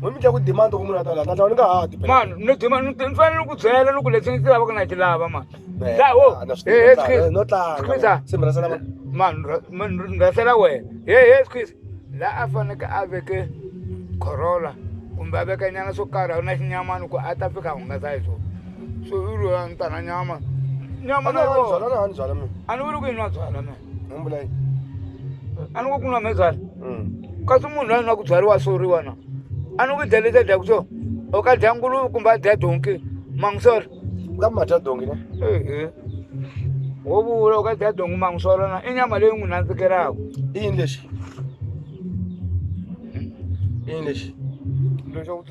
Mami ndla ku demand ku munhu atala tata ni nga ha ti man no demand ni fanele ku byela loko leswi ndzi lava ku na ti lava man la wo eh squeeze no tlanga simra sala man man ngasela wena hey hey squeeze la a faneke a veke Corolla kumbe a veka nyana swo karhi a na xinyamani ku a ta fika hungasa hi swona so i ri a ni ta na nyama nyama na yona a ni vuli ku yi nwa byala mina ni vula yini a ni ku ku nwa mhezala Mm. kasi munhu loyi na ku byariwa soriwa na a ni ku dya leti a dyaku so o ka dya nguluve kumbe a dya donki mangisora ka mata dongi ne ehe wo vula u ka dya donki mangisora na i nyama leyi n'wi nandzikelaka i yini lexi i yini lexi lexo